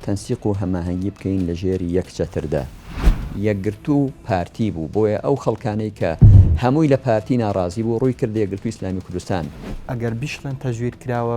تەنسیق و هەماهەنگی بکەین لە ژێر یەک چەتردا. یەکگرتوو پارتی بوو، بۆیە ئەو خەڵکانەی کە هەمووی لە پارتی ناڕازی بوو، ڕووی کردە یەکگرتووی ئیسلامی کوردستان. ئەگەر بیشڵێن تەزویر کراوە.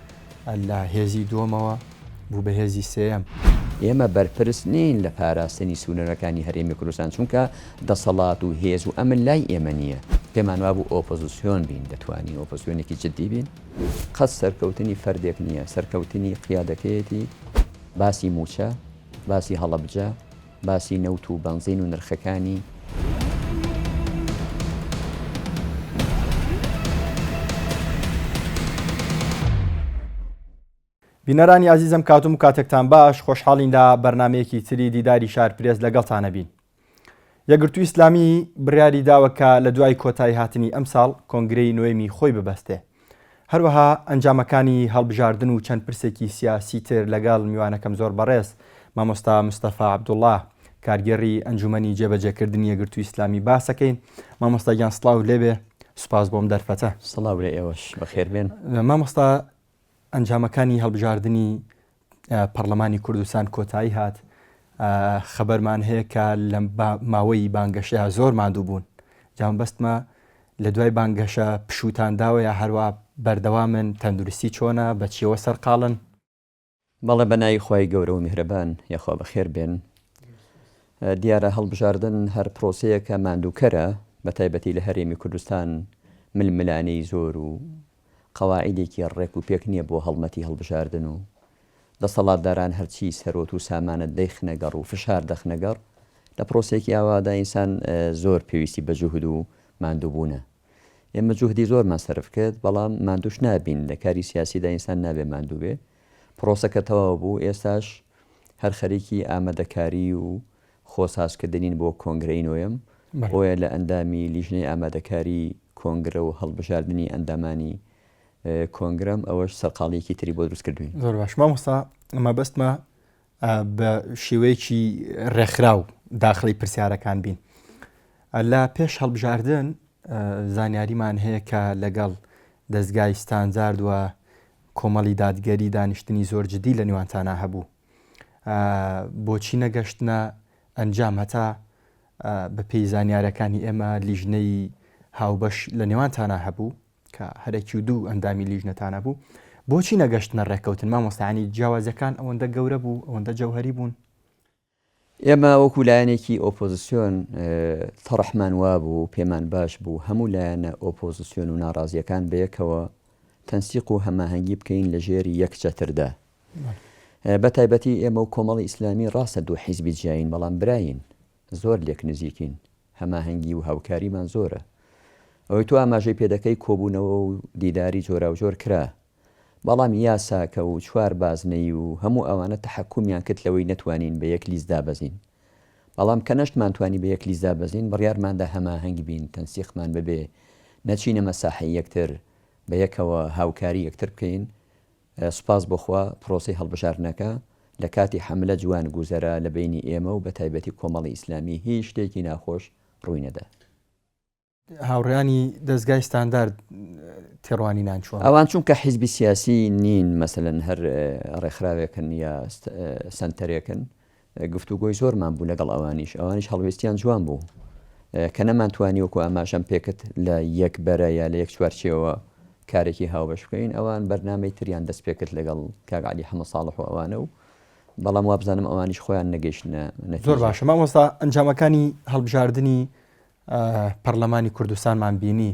لە هێزی دووەمەوە بوو بە هێزی سێیەم. ئێمە بەرپرس نین لە پاراستنی سنوورەکانی هەرێمی کوردستان، چونکە دەسەڵات و هێز و ئەمن لای ئێمە نییە. پێمان وابوو ئۆپۆزسیۆن بین، دەتوانین ئۆپۆزسیۆنێکی جددی بین. قەت سەرکەوتنی فەردێک نییە، سەرکەوتنی قیادەکەیەتی. باسی مووچە، باسی هەڵەبجە. باسی نەوت و بەنزین و نرخەکانی بینەرانی ئازیزم کاتم و کاتێکتان باش خۆشحاڵین لە بەرنمەیەکی تری دیداری شار پرێز لەگەڵتانە بین یەگرتو ئیسلامی بڕیاری داوە کە لە دوای کۆتایی هاتنی ئەمساڵ کۆنگرەی نوێمی خۆی ببەستێ هەروەها ئەنجامەکانی هەڵبژاردن و چەند پرسێکی سیاسی تر لەگەڵ میوانەکەم زۆر بەڕێز مامۆستا مستەفا عەبدوڵڵا کارگێڕی ئەنجومەنی جێبەجێکردنی یەکگرتووی ئیسلامی باسەکەین مامۆستا گیان سڵاو لێبێ سوپاس بۆم دەرفەتە سڵاو لە ئێوەش بەخێربێن مامۆستا ئەنجامەکانی هەڵبژاردنی پەڕلەمانی کوردستان کۆتایی هات، خەبەرمان هەیە کە لە ماوەی بانگەشەیە زۆر ماندوو بوون، جا مەبەستمە لە دوای بانگەشە پشووتان داوە یا هەروا بەردەوامن، تەندروستی چۆنە، بە چییەوە سەرقاڵن؟ بەڵێ بە ناوی خوای گەورە و میهرەبان، یەخوا بەخێر بێن. دیارە هەڵبژاردن هەر پرۆسەیەکە ماندووکەرە، بە تایبەتی لە هەرێمی کوردستان ململانێی زۆر و قەواعیدێکی ڕێک و پێک نییە بۆ هەڵمەتی هەڵبژاردن و دەسەڵاتداران هەرچی سەروەت و سامانت دەیخنە گەڕ و فشار دەخنە گەڕ، لە پرۆسەیەکی ئاوادا ئینسان زۆر پێویستی بە جوهد و ماندووبوونە. ئێمە جوهدی زۆرمان سەرف کرد، بەڵام ماندووش نابین، لە کاری سیاسیدا ئینسان نابێ ماندوو بێ. پرۆسەکە تەواو بوو، ئێستاش هەر خەریکی ئامادەکاری و خۆ سازکردنین بۆ کۆنگرەی نۆیەم، بۆیە لە ئەندامی لیژنەی ئامادەکاری کۆنگرە و هەڵبژاردنی ئەندامانی کۆنگرەم، ئەوەش سەرقاڵییەکی تری بۆ دروست کردووین. زۆر باش مامۆستا مەبەستمە بە شێوەیەکی ڕێکخراو داخڵی پرسیارەکان بین. لە پێش هەڵبژاردن زانیاریمان هەیە کە لەگەڵ دەستگای ستاندارد و کۆمەڵی دادگەری دانیشتنی زۆر جدی لە نێوانتانا هەبوو بۆچی نەگەشتنە ئەنجام هەتا بەپێی زانیارەکانی ئێمە لیژنەی هاوبەش لە نێوانتانە هەبوو کە هەرەکی و دوو ئەندامی لیژنەتانە بوو بۆچی نەگەشتنە ڕێککەوتن مامۆستانی جیاوازەکان ئەوەندە گەورە بوو ئەوەندە جەوهری بوون ئێمە وەکو لایەنێکی ئۆپۆزسیۆن تەڕحمان وابوو و پێمان باش بوو هەموو لایەنە ئۆپۆزسیۆن و ناڕازییەکان بەیەکەوە تەنسیق و هەماهەنگی بکەین لە ژێر یەک چەتردا. بە تایبەتی ئێمە و کۆمەڵی ئیسلامی ڕاستە دوو حیزبی جیاین بەڵام براین، زۆر لێک نزیکین، هەماهەنگی و هاوکاریمان زۆرە. ئەوەی تۆ ئاماژەی پێدەکەی کۆبوونەوە و دیداری جۆراوجۆر کرا، بەڵام یاساکە و چوار بازنەی و هەموو ئەوانە تەحەکومیان کرد لەوەی نەتوانین بە یەک لیست دابەزین. بەڵام کە نەشتمان توانی بە یەک لیست دابەزین بڕیارماندا هەماهەنگ بین تەنسیقمان ببێ نەچینە مەساحەی یەکتر بە یەکەوە هاوکاری یەکتر بکەین سوپاس بۆ خوا پرۆسەی هەڵبژاردنەکە لە کاتی حەملە جوان گوزەرا لە بەینی ئێمە و بە تایبەتی کۆمەڵی ئیسلامی هیچ شتێکی ناخۆش ڕووی نەدا. هاوڕیانی دەستگای ستاندارد تێڕوانینان چوە ئەوان چونکە حیزبی سیاسی نین مەسەن هەر ڕێکخراوێکن یا سنتەرێکن گفتوگۆی زۆرمان بوو لەگەڵ ئەوانیش ئەوانیش هەڵوێستیان جوان بوو کە نەمانتوانی وەکو ئاماشەم پێکت لە یەک بەرە یا لە یەک چوارچەوە کارێکی هاوبەش بکەین ئەوان بەرنمەی تریان دەست پێکرد لەگەڵ کاگعلی حەمە ساڵح و ئەوانە و بەڵام وابزانم ئەوانیش خۆیان نەگەشتە زۆر باشە مامۆستا ئەنجامەکانی هەڵبژاردننی پەڕلەمانی کوردستانمان بینی.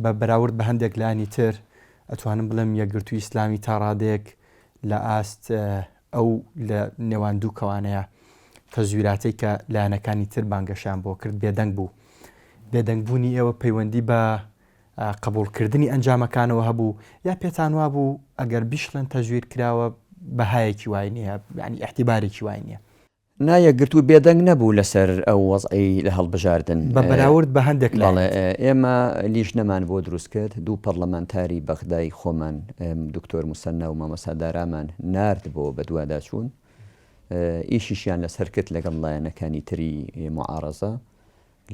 بە بەراورد بە هەندێک لایەنی تر ئەتوانم بڵێم یەکگرتووی ئیسلامی تا ڕادەیەک لە ئاست ئەو لە نێوان دوو کەوانەیە. تەزویراتەی کە لایەنەکانی تر بانگەشەیان بۆ کرد بێدەنگ بوو. بێدەنگ بوونی ئێوە پەیوەندی بە قبووڵ کردنی ئەنجامەکانەوە هەبوو یا پێتان وابوو ئەگەر بیشڵێن تەزویر کراوە بەهایەکی وای نییە یانی ئیعتیبارێکی وای نییە؟ نا یەکگرتوو بێدەنگ نەبوو لەسەر ئەو وەزعەی لە هەڵبژاردن. بە بەراورد بە هەندێک لایەن. بەڵێ، ئێمە لیژنەمان بۆ دروست کرد، دوو پەڕلەمانتاری بەغدای خۆمان، دکتۆر موسەننا و مامۆستا دارامان نارد بۆ بەدواداچوون. ئیشیشیان لەسەر کرد لەگەڵ لایەنەکانی تری موعارەزە.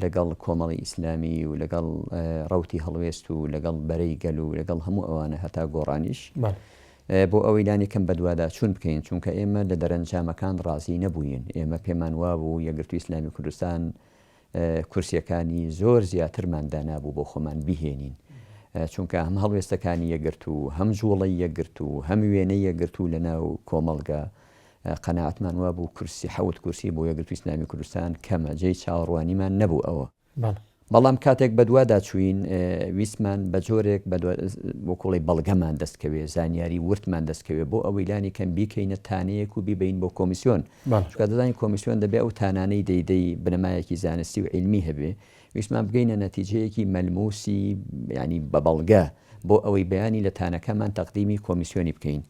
لەگەڵ کۆمەڵی ئیسلامی و لەگەڵ ڕەوتی هەڵوێست و لەگەڵ بەرەی گەل و لەگەڵ هەموو ئەوانە هەتا گۆڕانیش بۆ ئەوەی لانی کەم بەدواداچوون بکەین چونکە ئێمە لە دەرەنجامەکان ڕازی نەبووین ئێمە پێمان وابوو یەکگرتووی ئیسلامی کوردستان کورسیەکانی زۆر زیاترمان دانابوو بۆ خۆمان بهێنین چونکە هەم هەڵوێستەکانی یەکگرتوو هەم جوڵەی یەکگرتوو هەم وێنەی یەکگرتوو لەناو کۆمەڵگە قەناعەتمان وابوو کورسی حەوت کورسی بۆ یەکگرتووی ئیسلامی کوردستان کەمە، جێی چاوەڕوانیمان نەبوو ئەوە. بەڵام کاتێک بەدوادا چووین ویستمان بە جۆرێک وەکو بڵێی بەڵگەمان دەست کەوێ، زانیاری وردمان دەست کەوێ بۆ ئەوەی لانی کەم بیکەینە تانەیەک و بیبەین بۆ کۆمیسیۆن، چونکە دەزانین کۆمیسیۆن دەبێ ئەو تانانەی دەیدەی بنەمایەکی زانستی و عیلمی هەبێ، ویستمان بگەینە نەتیجەیەکی مەلمووسی یانی بە بەڵگە بۆ ئەوەی بەیانی لە تانەکەمان تەقدیمی کۆمیسیۆنی بکەین.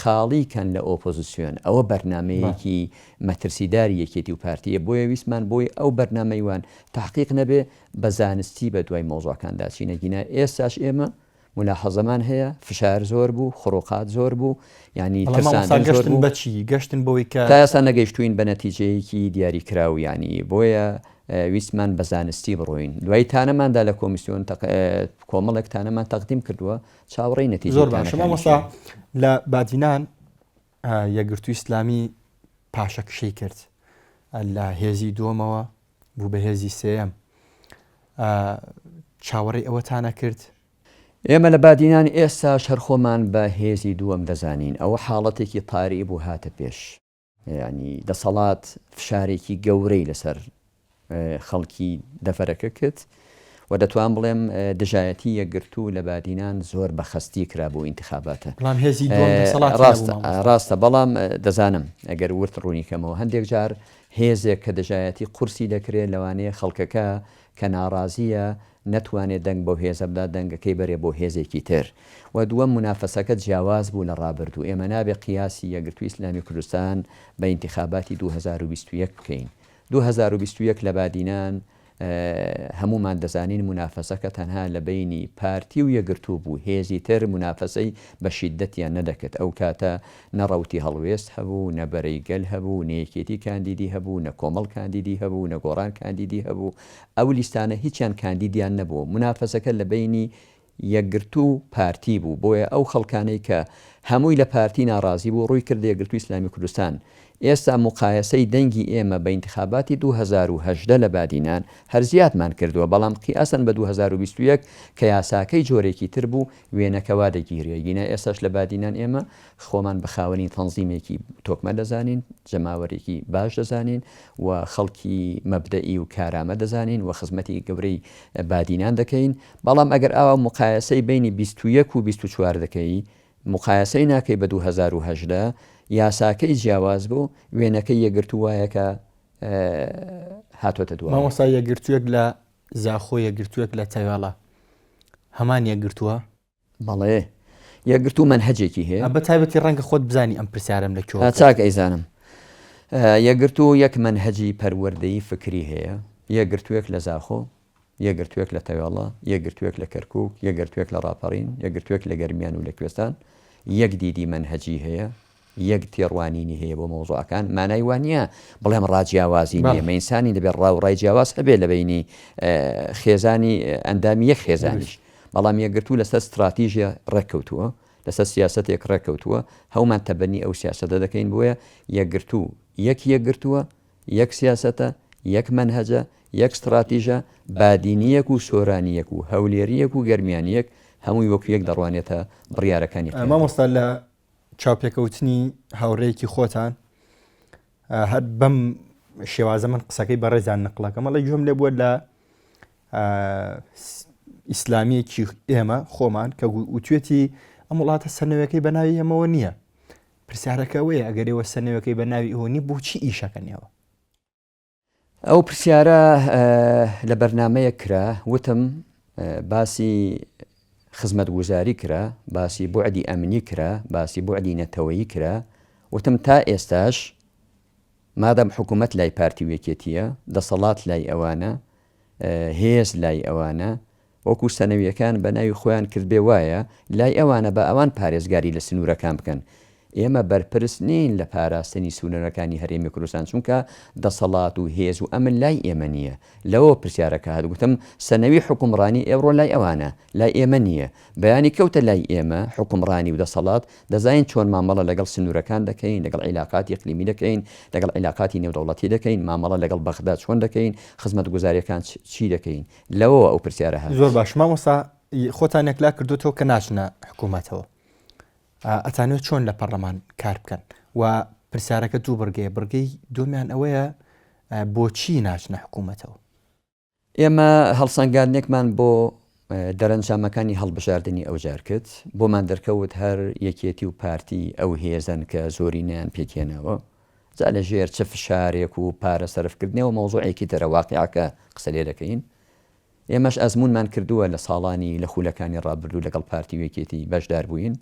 خاڵی کەن لە ئۆپۆزسیۆن ئەوە بەرنامەیەکی مەترسیداری یەکێتی و پارتیە بۆیە ویستمان بۆی ئەو بەرنامەی وان تەحقیق نەبێ بە زانستی بە دوای مەوزوعەکاندا چین ئەگینا ئێستاش ئێمە مولاحەزەمان هەیە فشار زۆر بوو خڕۆقات زۆر بوو یانی بەڵام مامۆستا ترساندن زۆر گەشتن بوو بە چی گەشتن بەوەی کە تا ئێستا نەگەیشتووین بە نەتیجەیەکی دیاری کراو یانی بۆیە اه، ویستمان بە زانستی بڕۆین دوای تانەماندا لە کۆمیسیۆن تەق... اه، کۆمەڵێک تانەمان تەقدیم کردووە چاوەڕێی نەتیجەکانەکانیشین. زۆر باشە مامۆستا لە بادینان یەکگرتووی ئیسلامی پاشەکشەی کرد لە هێزی دووەمەوە بوو بە هێزی سێەم چاوەڕێی ئەوەتانە کرد ئێمە لە بادینان ئێستا شەرخۆمان بە هێزی دووەم دەزانین ئەوە حاڵەتێکی تاری بوو هاتە پێش یانی دەسەڵات فشارێکی گەورەی لەسەر خەڵکی دەفەرەکە کرد و دەتوان بڵێم دژایەتی یەکگرتوو لە بادینان زۆر بە خستی کرا بۆ ئینتخاباتە ڕاستە بەڵام دەزانم ئەگەر ورد ڕوونیکەمەوە هەندێک جار هێزێک کە دژایەتی قورسی دەکرێت لەوانەیە خەڵکەکە کە ناڕازیە نەتوانێت دەنگ بەو هێزە بدا دەنگەکەی بەرێ بۆ هێزێکی تر و دووەم مونافەسەکە جیاواز بوو لە ڕابردوو ئێمە نابێت قیاسی یەکگرتووی ئیسلامی کوردستان بە ئینتیخاباتی دوو هەزار و بیست و یەک بکەین دوو هەزار و بیست و یەک لە بادینان هەموومان دەزانین مونافەسەکە تەنها لە بەینی پارتی و یەکگرتوو بوو هێزی تر مونافەسەی بە شیدەتیان نەدەکرد ئەو کاتە نە ڕەوتی هەڵوێست هەبوو نە بەرەی گەل هەبوو نە یەکێتی کاندیدی هەبوو نە کۆمەڵ کاندیدی هەبوو نە گۆڕان کاندیدی هەبوو ئەو لیستانە هیچیان کاندیدیان نەبوو، مونافەسەکە لە بەینی یەکگرتوو و پارتی بوو، بۆیە ئەو خەڵکانەی کە هەمووی لە پارتی ناڕازی بوو ڕووی کردە یەکگرتووی ئیسلامی کوردستان، ئێستا موقایەسەی دەنگی ئێمە بە ئینتخاباتی دوو هەزار و هەژدە لە بادینان هەر زیادمان کردووە، بەڵام قیاسەن بە دوو هەزار و بیست و یەک کە یاساکەی جۆرێکی تر بوو وێنەکە وا دەگیرێ، ئیگینا ئێستاش لە بادینان ئێمە خۆمان بە خاوەنی تەنزیمێکی تۆکمە دەزانین، جەماوەرێکی باش دەزانین و خەڵکی مەبدەئی و کارامە دەزانین و خزمەتی گەورەی بادینان دەکەین، بەڵام ئەگەر ئاوا موقایەسەی بەینی بیست و یەک و بیست و چوار دەکەی، موقایەسەی ناکەی بە دوو هەزار و هەژدە، یاساکەی جیاواز بوو، وێنەکەی یەکگرتوو وایە کە هاتۆتە دوایە. مامۆستا یەکگرتووێک لە زاخۆ، یەکگرتووێک لە تەوێڵە هەمان یەکگرتووە؟ بەڵێ یەکگرتوو مەنهەجێکی هەیە. بە تایبەتی ڕەنگە خۆت بزانی ئەم پرسیارەم لە کوێوە کرد. چاک ئەیزانم. یەکگرتوو یەک مەنهەجی پەروەردەی فکری هەیە، یەکگرتووێک لە زاخۆ، یەکگرتووێک لە تەوێڵە، یەکگرتووێک لە کەرکووک، یەکگرتووێک لە ڕاپەڕین، یەکگرتووێک لە گەرمیان و لە کوێستان یەک دیدی مەنهەجی هەیە، یەک تێڕوانینی هەیە بۆ مەوزوعەکان مانای وا نییە بڵێم ڕا جیاوازی نییە مە ئینسانی دەبێت ڕا و ڕای جیاواز هەبێت لە بینی خێزانی ئەندامی یەک خێزانیش بەڵام یەکگرتوو لەسەر ستراتیژە ڕێککەوتووە لەسەر سیاستێک ڕێککەوتووە هەومان تەبەنی ئەو سیاستە دەکەین بۆیە یەکگرتوو یەک یەکگرتووە یەک سیاستە یەک منهجە یەک ستراتیژە بادینیەک و سۆرانیەک و هەولێریەک و گەرمیانیەک هەمووی وەک یەک دەڕوانێتە بڕیارەکانی مامۆستا لە چاوپێکەوتنی هاوڕێیەکی خۆتان هەر بەم شێوازە من قسەکەی بەڕێزان نقلەکەم ئەڵی گوێم لێ بووە لە ئیسلامیەکی ئێمە خۆمان کە وتوێتی ئەم وڵاتە سنەوەکەی بەناوی ئەمەوە نییە پرسیارەکەەوەی ئەگەرەوە سنەوەکەی بە ناوی ئەوە نی بۆچی ئیشەکەنەوە ئەو پرسیارە لە بەرنامەیەک کرا وتم باسی خزمەتگوزاری کرا، باسی بوعدی ئەمنی کرا، باسی بوعدی نەتەوەیی کرا، وتم تا ئێستاش مادام حکوومەت لای پارتی و یەکێتییە، دەسەڵات لای ئەوانە، هێز لای ئەوانە، وەکو سەنەویەکان بە ناوی خۆیان کردبێ وایە لای ئەوانە با ئەوان پارێزگاری لە سنورەکان بکەن ئێمە بەرپرس نین لە پاراستنی سونەرەکانی هەرێمی کوردستان چونکە دەسەڵات و هێز و ئەمن لای ئێمە نیە لەوەوە پرسیارەکە هات گوتم سەنەوی حوکمڕانی ئێوڕۆ لای ئەوانە لای ئێمە نیە بەیانی کەوتە لای ئێمە حوکمڕانی و دەسەڵات دەزانین چۆن مامەڵە لەگەڵ سنورەکان دەکەین لەگەڵ عیلاقاتی اقلیمی دەکەین لەگەڵ عیلاقاتی نێودەوڵەتی دەکەین مامەڵە لەگەڵ بەغدا چۆن دەکەین خزمەتگوزاریەکان چی دەکەین لەوەوە ئەو پرسیارە هات. زۆر باش مامۆستا خۆتان یەکلا کردوتەوە کە ناچنە حکوومەتەوە ئەتانوێت چۆن لە پەرلەمان کار بکەن و پرسیارەکە دوو بڕگەیە بڕگەی دومیان ئەوەیە بۆچی ناچنە حکوومەتەوە ئێمە هەڵسەنگاندێکمان بۆ دەرەنجامەکانی هەڵبژاردننی ئەو جار کرد بۆمان دەرکەوت هەر یەکێتی و پارتی ئەو هێزن کە زۆرینیان پێکێنەوە جا لە ژێر چ فشارێک و پارە سەرف کردنەوە مەوزوعێکی ترە واقیعەکە قسە لێ دەکەین ئێمەش ئەزموونمان کردووە لە ساڵانی لە خولەکانی ڕابردوو لەگەڵ پارتی و یەکێتی بەشدار بووین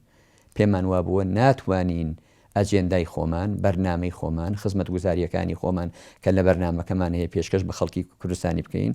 پێمان وابووە ناتوانین ئەجێندای خۆمان بەرنامەی خۆمان خزمەتگوزارییەکانی خۆمان کە لە بەرنامەکەمان هەیە پێشکەش بە خەڵکی کوردستانی بکەین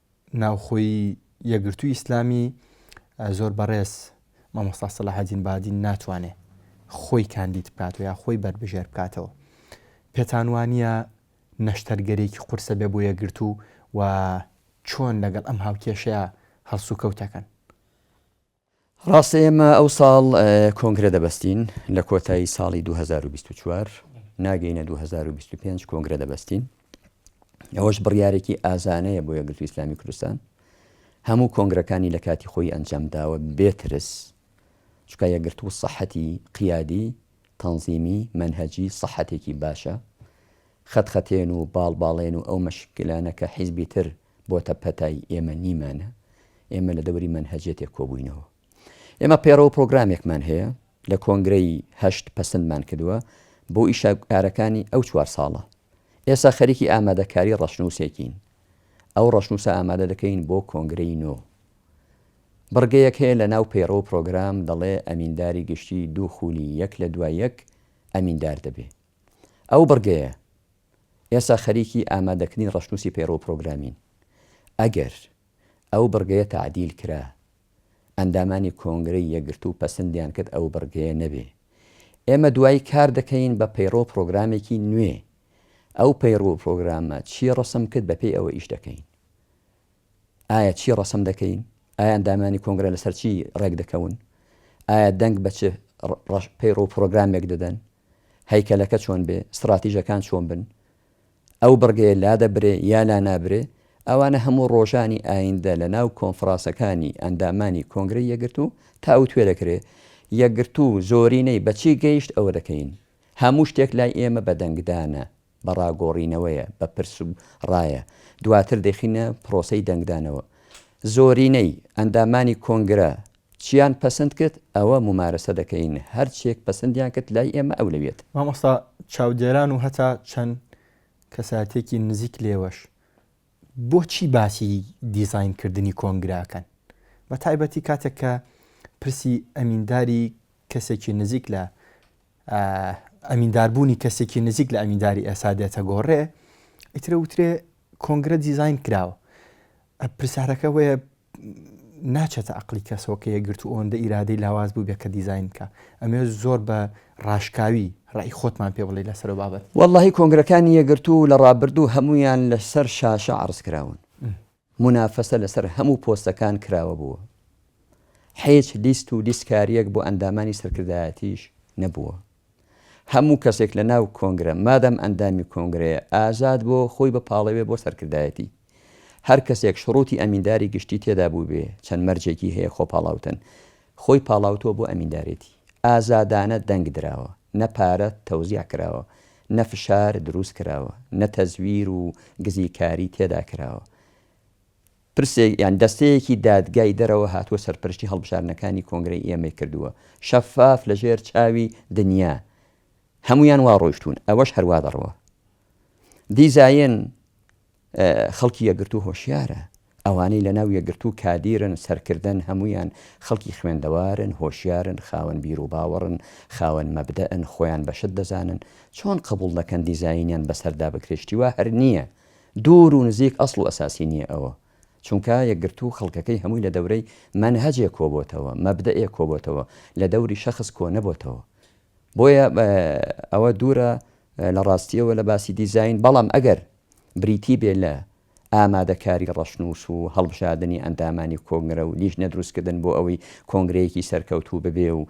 ناوخۆی یەکگرتووی ئیسلامی زۆر بەڕێز مامۆستا سەلاحەدین بادین ناتوانێ خۆی کاندید بکات و یا خۆی بەربژێر بکاتەوە پێتان وانە نەشتەرگەرێکی قورسە بێ بۆ یەکگرتو و چۆن لەگەڵ ئەم هاوکێشەیە هەڵسوکەوتەکەن ڕاستە ئێمە ئەوساڵ کۆنگرە دەبەستین لە کۆتایی ساڵی دوو هەزار و بیست و چوار ناگەینە دوو هەزار و بیست و پێنج کۆنگرە دەبەستین ئەوەش بڕیارێکی ئازانەیە بۆ یەکگرتووی ئیسلامی کوردستان هەموو کۆنگرەکانی لە کاتی خۆی ئەنجام داوە بێترس چکە یەکگرتوو سەحەتی قیادی تەنزیمی منهجی سەحەتێکی باشە خەتخەتێن و باڵباڵێن و ئەو مەشکلانە کە حیزبی تر بۆتە پەتای ئێمە نیمانە، ئێمە لە دەوری مەنهەجیەتێک کۆبووینەوە. ئێمە پەیڕەوو پرۆگرامێکمان هەیە، لە کۆنگرەی هەشت پەسندمان کردووە بۆ ئیشە کارەکانی ئەو چوار ساڵە. ئێسا خەریکی ئامادەکاری ڕەشنووسێکین. ئەو ڕەشنووسە ئامادە دەکەین بۆ کۆنگرەی نۆ. بڕگەیەک هەیە لە ناو پەیڕەوو پرۆگرام دەڵێ ئەمینداری گشتی دوو خولی یەک لە دوای یەک ئەمیندار دەبێ. ئەو بڕگەیە. ئێستا خەریکی ئامادەکردنی ڕەشنووسی پەیڕەو پرۆگرامین، ئەگەر ئەو بڕگەیە تەعدیل کرا، ئەندامانی کۆنگرەی یەکگرتوو پەسندیان کرد ئەو بڕگەیە نەبێ، ئێمە دوایی کار دەکەین بە پەیڕەو پرۆگرامێکی نوێ، ئەو پەیڕەو پرۆگرامە چی ڕەسم کرد بە پێی ئەوە ئیش دەکەین. ئایا چی ڕەسم دەکەین؟ ئایا ئەندامانی کۆنگرە لەسەر چی ڕێک دەکەون؟ ئایا دەنگ بە چ پەیڕەو پرۆگرامێک دەدەن؟ هەیکەلەکە چۆن بێ، ستڕاتیژەکان چۆن بن، ئەو بڕگەیە لادەبرێ یا لانابرێ، ئەوانە هەموو ڕۆژانی ئایندە لە ناو کۆنفڕاسەکانی ئەندامانی کۆنگرەی یەکگرتوو تاووتوێ دەکرێ، یەکگرتوو زۆرینەی بە چی گەیشت ئەوە دەکەین. هەموو شتێک لای ئێمە بە دەنگدانە. بە ڕاگۆڕینەوەیە، بە پرس و ڕایە، دواتر دەیخینە پرۆسەی دەنگدانەوە. زۆرینەی ئەندامانی کۆنگرە چیان پەسند کرد ئەوە مومارەسە دەکەین، هەر چیەک پەسندیان کرد لای ئێمە ئەولەویەتە. مامۆستا چاودێران و هەتا چەند کەسایەتیەکی نزیک لێوەش بۆچی باسی دیزاین کردنی کۆنگرە ئەکەن؟ بە تایبەتی کاتێک کە پرسی ئەمینداری کەسێکی نزیک لە ئەمینداربوونی کەسێکی نزیک لە ئەمینداری ئێستا دێتە گۆڕێ، ئیتر ئەوترێ کۆنگرە دیزاین کراوە. پرسیارەکە وەیە ناچێتە عقلی کەسەوە کە یەکگرتو و ئەوەندە ئیرادەی لاواز بوو بێ کە دیزاین بکە ئەمێ زۆر بە ڕاشکاوی ڕای خۆتمان پێ بڵێ لەسەر بابەت وەڵڵاهی کۆنگرەکانی یەکگرتوو لە ڕابردوو هەموویان لەسەر شاشە عەڕز کراون مونافەسە لەسەر هەموو پۆستەکان کراوە بووە، حیچ لیست و لیستکاریەک بۆ ئەندامانی سەرکردایەتیش نەبووە، هەموو کەسێک لە ناو کۆنگرە مادام ئەندامی کۆنگرەیە ئازاد بۆ خۆی بپاڵێوێ بۆ سەرکردایەتی، هەر کەسێک شڕوتی ئەمینداری گشتی تێدا بووبێ چەند مەرجێکی هەیە خۆپاڵاوتن خۆی پاڵاوتووە بۆ ئەمیندارێتی، ئازادانە دەنگ دراوە، نە پارە تەوزیع کراوە، نە فشار دروست کراوە، نە تەزویر و گزیکاری تێدا کراوە. پرسێک یان دەستەیەکی دادگای دەرەوە هاتووە سەرپەرشتی هەڵبژاردنەکانی کۆنگرەی ئێمەی کردووە، شەفاف لە ژێر چاوی دنیا هەموویان وا ڕۆیشتوون، ئەوەش هەر وا دەڕوا. دیزاین خەڵکی یەکگرتوو هۆشیارە، ئەوانەی لەناو یەکگرتوو کادیرن، سەرکردەن، هەموویان خەڵکی خوێندەوارن، هۆشیارن، خاوەن بیروباوەڕن، خاوەن مەبدەئن، خۆیان بەشت دەزانن، چۆن قبوڵ دەکەن دیزاینیان بەسەردا بکرێت، شتی وا هەر نییە، دوور و نزیک ئەسڵ و ئەساسی نییە ئەوە، چونکە یەکگرتوو خەڵکەکەی هەمووی لە دەورەی مەنهەجێک کۆبۆتەوە، مەبدەئێک کۆبۆتەوە، لە دەوری شەخس کۆنەبۆتەوە، بۆیە ئەوە دوورە لە ڕاستییەوە لە باسی دیزاین، بەڵام ئەگەر بریتی بێ لە ئامادەکاری ڕەشنووس و هەڵبژاردنی ئەندامانی کۆنگرە و لیژنە دروستکردن بۆ ئەوەی کۆنگرەیەکی سەرکەوتوو ببێ و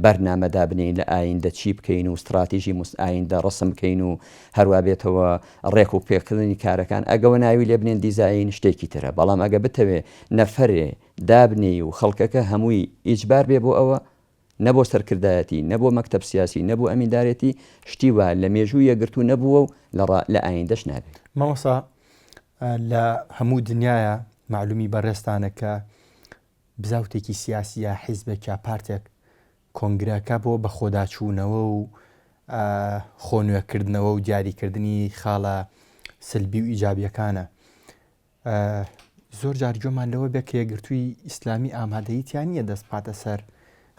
بەرنامە دابنێین لە ئایندە چی بکەین و ستڕاتیژی ئایندە ڕەسم بکەین و هەروا بێتەوە ڕێک و پێکردنی کارەکان ئەگەوە ناوی لێ بنێن دیزاین شتێکی ترە بەڵام ئەگە بتەوێ نەفەرێ دابنێی و خەڵکەکە هەمووی ئیجبار بێ بۆ ئەوە نە بۆ سەرکردایەتی، نە بۆ مەکتەب سیاسی، نە بۆ ئەمیندارێتی، شتی وا لە مێژوو یەکگرتوو نەبووە و لە ئایندەش نابێت. مامۆستا لە هەموو دنیایە مەعلومی بەڕێزتانە کە بزاوتێکی سیاسی یا حیزبێک یا پارتێک کۆنگرەکە بۆ بەخۆداچوونەوە و خۆنوێکردنەوە و دیاریکردنی خاڵە سلبی و ئیجابیەکانە زۆر جار گوێمان لەوە بێت کە یەکگرتووی ئیسلامی ئامادەیی تیا نییە دەست بخاتە سەر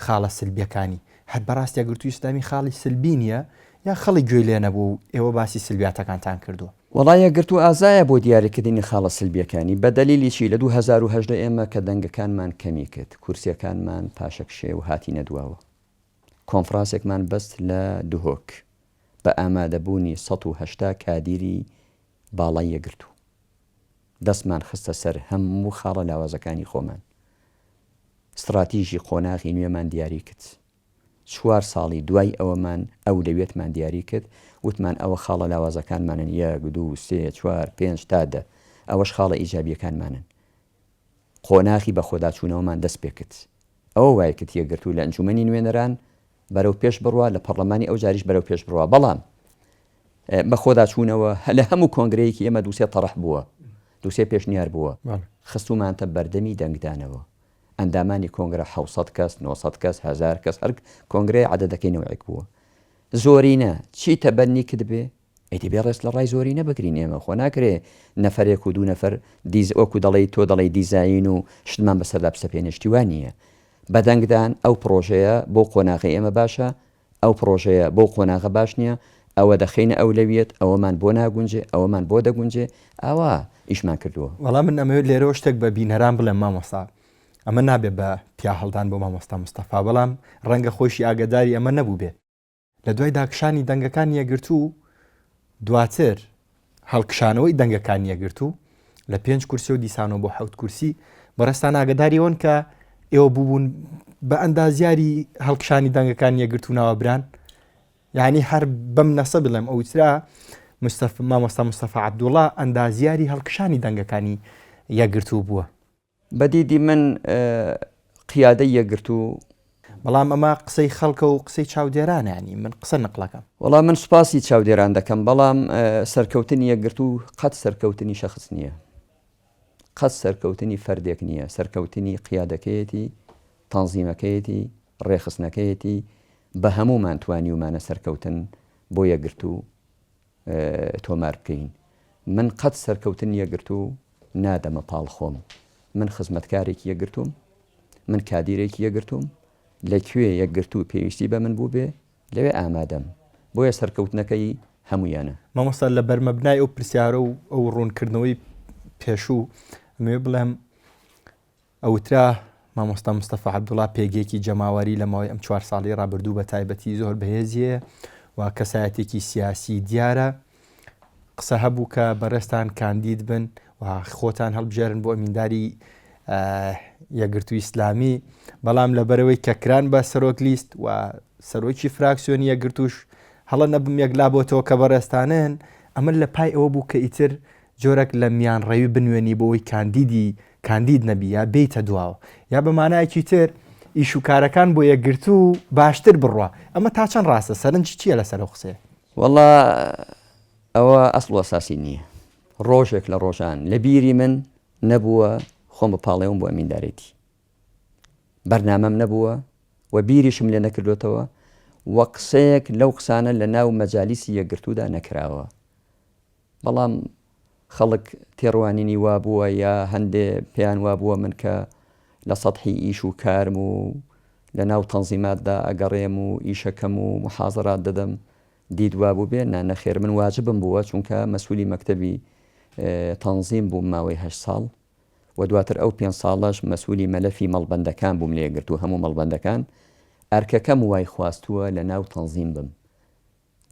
خاڵە سلبیەکانی هەر بەڕاست یەکگرتووی ئیسلامی خاڵی سلبی نییە یا خەڵک گوێی لێ نەبوو و ئێوە باسی سلبیاتەکانتان کردووە. وەڵا یەکگرتوو ئازایە بۆ دیاریکردنی خاڵە سلبیەکانی، بە دەلیلی چی؟ لە دوو هەزار و هەژدە ئێمە کە دەنگەکانمان کەمی کرد، کورسیەکانمان پاشەکشێ و هاتینە دواوە، کۆنفڕانسێکمان بەست لە دهۆک بە ئامادەبوونی سەد و هەشتا کادیری، باڵای یەکگرتوو دەستمان خستە سەر هەموو خاڵە لاوازەکانی خۆمان. ستڕاتیژی قۆناغی نوێمان دیاری کرد. چوار ساڵی دوای ئەوەمان ئەولەویەتمان دیاری کرد، وتمان ئەوە خاڵە لاوازەکانمانن، یەک، دوو، سێ، چوار، پێنج تا دە. ئەوەش خاڵە ئیجابییەکانمانن. قۆناخی بەخۆداچوونەوەمان دەست پێکرد. ئەوە وای کرد یەکگرتوو لە ئەنجوومەنی نوێنەران بەرەو پێش بڕوا، لە پەڕڵەمانی ئەوجاریش بەرەو پێش بڕوا. بەڵام بەخۆداچوونەوە لە هەموو کۆنگرەیەکی ئێمە دوو سێ تەڕح بووە، دوو سێ پێشنیار بووە. خستوومانتە بەردەمی دەنگدانەوە. ئەندامانی کۆنگرە حەوت سەد کەس، نۆ سەد کەس، هەزار کەس، هەر کۆنگرەیە عەدەدەکەی نەوعێک بووە. زۆرینە چی تەبەننی کردبێ، ئیدی بێ ڕێز لە ڕای زۆرینە بگرین ئێمە خۆ ناکرێ نەفەرێک و دوو نەفەر دیز وەکو دەڵێی تۆ دەڵێی دیزاین و شتمان بەسەردا بسەپێنێ شتی وا نییە بە دەنگدان ئەو پڕۆژەیە بۆ قۆناغی ئێمە باشە ئەو پڕۆژەیە بەو قۆناغە باش نییە ئەوە دەخینە ئەولەویەت ئەوەمان بۆ ناگونجێ ئەوەمان بۆ دەگونجێ ئاوا ئیشمان کردووە وەڵام من ئەمەوێت لێرەوە شتێک بە بینەران بڵێم مامۆستا ئەمە نابێت بە پیا هەڵدان بۆ مامۆستا مستەفا بەڵام ڕەنگە خۆشی ئاگداری ئەمە نەبوو بێت لە دوای داکشانی دەنگەکانی یەکگرتوو و دواتر هەڵکشانەوەی دەنگەکانی یەکگرتوو لە پێنج کورسی و دیسانەوە بۆ حوت کورسی بەڕێستان ئاگداریەوەن کە ئێوە بووبوون بە ئەندازیاری هەڵکشانی دەنگەکان یەکگرتوو ناوەبران یعنی هەر بەم نەسە بڵێم ئەوترا مستەف مامۆستا مستەفا عبدوڵا ئەندازیاری هەڵکشانی دەنگەکانی یەکگرتوو بووە بە دیدی من قیادەی یەکگرتوو. بەڵام ئەمە قسەی خەڵکە و قسەی چاودێرانە یانی من قسە نقلەکەم. وەڵا من سوپاسی چاودێران دەکەم بەڵام سەرکەوتنی یەکگرتوو قەت سەرکەوتنی شەخس نییە قەت سەرکەوتنی فەردێک نییە سەرکەوتنی قیادەکەیەتی تەنزیمەکەیەتی ڕێخستنەکەیەتی بە هەموومان توانیومانە سەرکەوتن بۆ یەکگرتوو تۆمار بکەین من قەت سەرکەوتن یەکگرتوو نادەمە پاڵ خۆم من خزمەتکارێکی یەکگرتووم من کادیرێکی یەکگرتووم لە کوێ یەکگرتوو پێویستی بە من بوو بێ لەوێ ئامادەم بۆیە سەرکەوتنەکەی هەمویانە مامۆستا لە بەرمەبنای ئەو پرسیارە و ئەو ڕوونکردنەوەی پێشوو مێ بڵێم ئەوترا، مامۆستا مستەفا عەبدوڵا پێگەیەکی جەماوەری لە ماوەی ئەم چوار ساڵەی ڕابردوو بە تایبەتی زۆر بەهێزی هەیە و کەسایەتێکی سیاسی دیارە. قسە هەبوو کە بەڕێزتان کاندید بن و خۆتان هەڵبژێرن بۆ ئەمینداری یەکگرتووی ئیسلامی، بەڵام لەبەرەوەی کە کران بە سەرۆک لیست و سەرۆکی فراکسیۆنی یەکگرتووش هەڵە نەبم یەکلا بۆتەوە کە بەڕێزتانن، ئەمە لە پای ئەوە بوو کە ئیتر جۆرەک لە میانڕەوی بنوێنی بۆ ئەوەی کاندیدی کاندید نەبی یا بێیتە دواوە یا بە مانایەکی تر ئیش و کارەکان بۆ یەکگرتوو و باشتر بڕوا ئەمە تا چەند ڕاستە سەرنجی چییە لەسەر ئەو قسەیە؟ وەڵا ئەوە ئەسڵ و ئەساسی نییە ڕۆژێک لە ڕۆژان لە بیری من نەبووە خۆم بپاڵێوم بۆ ئەمیندارێتی بەرنامەم نەبووە و بیریشم لێ نەکردوێتەوە و قسەیەک لەو قسانە لە ناو مەجالیسی یەکگرتوودا نەکراوە بەڵام خەڵک تێڕوانینی وا بووە یا هەندێ پێیان وا بووە من کە لە سەتحی ئیش و کارم و لە ناو تەنزیماتدا ئەگەڕێم و ئیشەکەم و موحازەرات دەدەم دیت وا بووبێ، نا نەخێر من واجبم بووە چونکە مەسوولی مەکتەبی تەنزیم بووم ماوەی هەشت ساڵ و دواتر ئەو پێنج ساڵەش مەسوولی مەلەفی مەڵبەندەکان بووم لێ گرتوو هەموو مەڵبەندەکان ئەرکەکەم وای خواستووە لە ناو تەنزیم بم.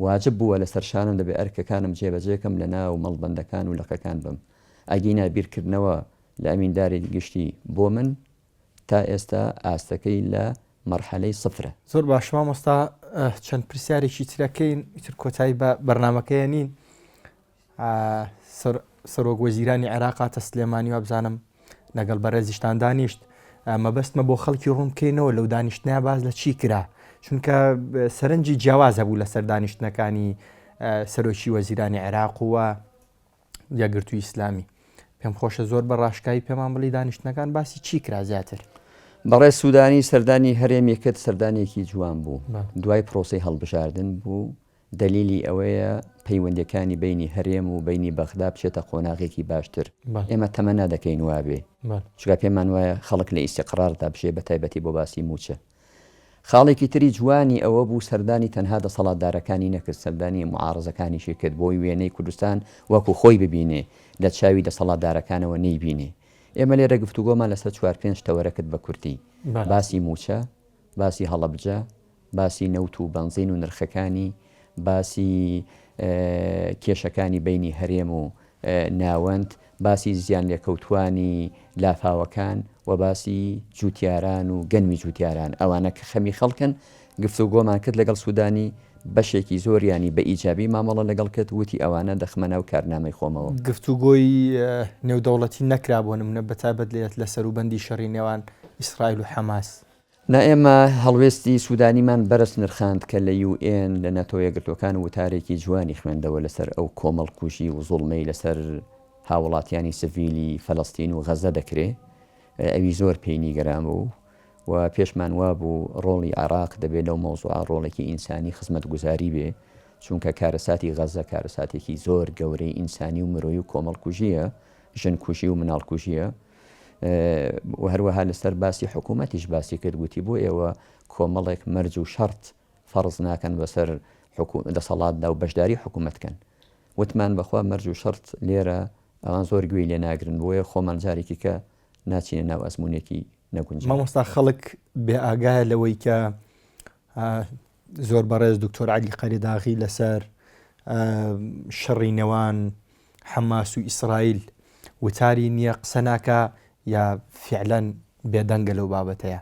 واجب بووە لەسەر شانم دەبێ ئەرکەکانم جێبەجێ کەم لە ناو مەڵبەندەکان و لقەکان بم ئەگینا بیرکردنەوە لە ئەمینداری گشتی بۆ من تا ئێستا ئاستەکەی لە مەرحەلەی سفرە. زۆر باش مامۆستا چەند پرسیارێکی ترەکەین ئیتر کۆتایی بە بەرنامەکەیە نین، سەرۆک وەزیرانی عێراق هاتە سلێمانی وابزانم لەگەڵ بەڕێزیشتان دانیشت مەبەستمە بۆ خەڵکی ڕوون بکەینەوە لەو دانیشتنای باز لە چی کرا چونکە سەرنجی جیاواز هەبوو لەسەر دانیشتنەکانی سەرۆکی وەزیرانی عێراق و یەکگرتوو ئیسلامی پێم خۆشە زۆر بە ڕاشکایی پێمان بڵی دانیشتنەکان باسی چی کرا زیاتر بەڕێ سوودانی سەردانی هەرێمێکت سەردانێکی جوان بوو دوای پرۆسی هەڵبژاردن بوو دەلیلی ئەوەیە پەیوەندیەکانی بەینی هەرێم و بەینی بەغدا بچێتە قۆناغێکی باشتر، ئێمە تەمەنا دەکەین وابێ، چونکە پێمان وایە خەڵک لە ئیستیقراردا بژێ بە تایبەتی بۆ باسی مووچە. خاڵێکی تری جوانی ئەوە بوو سەردانی تەنها دەسەڵاتدارەکانی نەکرد، سەردانی معارەزەکانیشی کرد بۆی وێنەی کوردستان وەکو خۆی ببینێ لە چاوی دەسەڵاتدارەکانەوە نەیبینێ. ئێمە لێرە گفتوگۆمان لەسەر چوار پێنج تەوەرە کرد بە کورتی، باسی مووچە، باسی هەڵەبجە، باسی نەوت و بەنزین و نرخەکانی، باسی کێشەکانی بەینی هەرێم و ناوەند، باسی زیانلێکەوتووانی لافاوەکان و باسی جووتیاران و گەنمی جووتیاران، ئەوانە کە خەمی خەڵکن، گفتوگۆمان کرد لەگەڵ سوودانی، بەشێکی زۆریانی بە ئیجابی مامەڵە لەگەڵ کرد، وتی ئەوانە دەخمە ناو کارنامەی خۆمەوە. گفتوگۆی نێودەوڵەتی نەکرا بۆ نموونە بەتایبەت لە سەروبەندی شەڕی نێوان ئیسرائیل و حەماس، نا ئێمە هەڵوێستی سودانیمان بەرز نرخاند کە لە یو ئێن، لە ناتۆیەکگرتوەکان وتارێکی جوانی خوێندەوە لەسەر ئەو کۆمەڵکوژی وزوڵمەی لەسەر هاوڵاتیانی سڤیلی فەلەستین و غەزە دەکرێ ئەوی زۆر پێی نیگەران بوو و پێشمان وابوو ڕۆڵی عێراق دەبێ لەو مەوزوعە ڕۆڵێکی ئینسانی خزمەتگوزاری بێ چونکە کارەساتی غەزە کارەساتێکی زۆر گەورەی ئینسانی و مرۆی و کۆمەڵکوژیە ژنکوژی و مناڵکوژیە و هەروەها لەسەر باسی حکوومەتیش باسی کرد گوتی بۆ ئێوە کۆمەڵێک مەرج و شەڕت فەڕز ناکەن بەسەر دەسەڵاتدا و بەشداری حکوومەت کەن وتمان بەخوا مەرج و شەرت لێرە ئەوان زۆر گوێی لێ ناگرن بۆیە خۆمان جارێکی کە ناچینە ناو ئەزمونێکی نەگونج مامۆستا خەڵک بێ ئاگایە لەوەی کە زۆر بەڕێز دکتۆر علی قەریداغی لەسەر شەڕی نێوان حەماس و ئیسرائیل وتاری نیە قسە ناکا یا فیعلەن بێدەنگە لەو بابەتەیا؟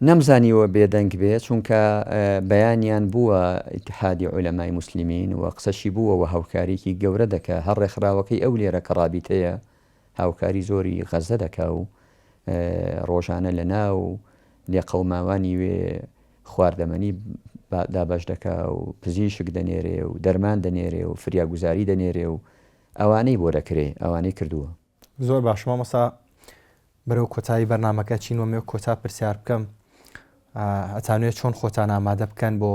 نەمزانیوە بێدەنگ بێ چونکە بەیانیان بووە ئیتحادی عولەمای موسلیمین و قسەشی بووە و هاوکاریکی گەورە دەکا هەر ڕێکخراوەکەی ئەو لێرە کە ڕابیتەیە هاوکاری زۆری غەزە دەکا و ڕۆژانە لە ناو لێقەوماوانی وێ خواردەمەنی دابەش دەکا و پزیشک دەنێرێ و دەرمان دەنێرێ و فریاگوزاری دەنێرێ و ئەوانەی بۆ دەکرێ ئەوانەی کردووە. زۆر باش مامۆستا بەرەو کۆتایی بەرنامەکە چین وەمێ کۆتا پرسیار بکەم ئەتانوێت چۆن خۆتان ئامادە بکەن بۆ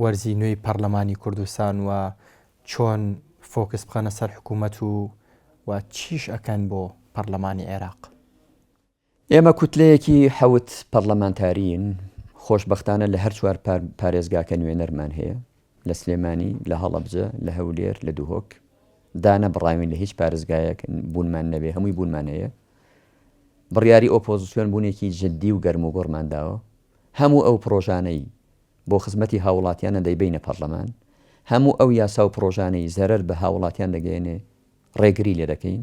وەرزی نوێی پەرلەمانی کوردستان و چۆن فۆکس بخەنە سەر حکوومەت و و چیش ئەکەن بۆ پەرلەمانی عێراق ئێمە کوتلەیەکی حەوت پەڕلەمانتارین، خۆشبەختانە لە هەر چوار پارێزگاکە نوێنەرمان هەیە، لە سلێمانی، لە هەڵەبجە، لە هەولێر، لە دهۆک، دانەبڕاوین لە هیچ پارێزگایەک بوونمان نەبێ هەمووی بوونمان هەیە، بڕیاری ئۆپۆزسیۆن بوونێکی جدی و گەرموگوڕمان داوە، هەموو ئەو پڕۆژانەی بۆ خزمەتی هاووڵاتیانە دەیبەینە پەڕلەمان، هەموو ئەو یاسا و پڕۆژانەی زەرەر بە هاووڵاتیان دەگەیەنێ ڕێگری لێدەکەین.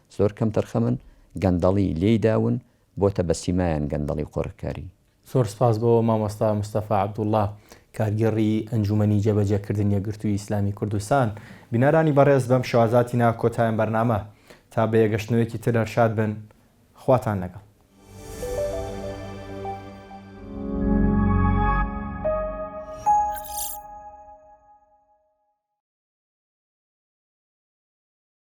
زۆر کەم تەرخەمن گەندەڵی لێی داون بۆتە بە سیمایان گەندەڵی و قۆرخکاری. زۆر سپاس بۆ مامۆستا مستەفا عەبدوڵڵا کارگێڕی ئەنجومەنی جێبەجێکردن یەکگرتووی ئیسلامی کوردستان. بینەرانی بەڕێز بەم شێوازە هاتینە کۆتایەم بەرنامە تا بە یەگەشتنەوەیەکی تر هەر شاد بن خواتان لەگەڵ.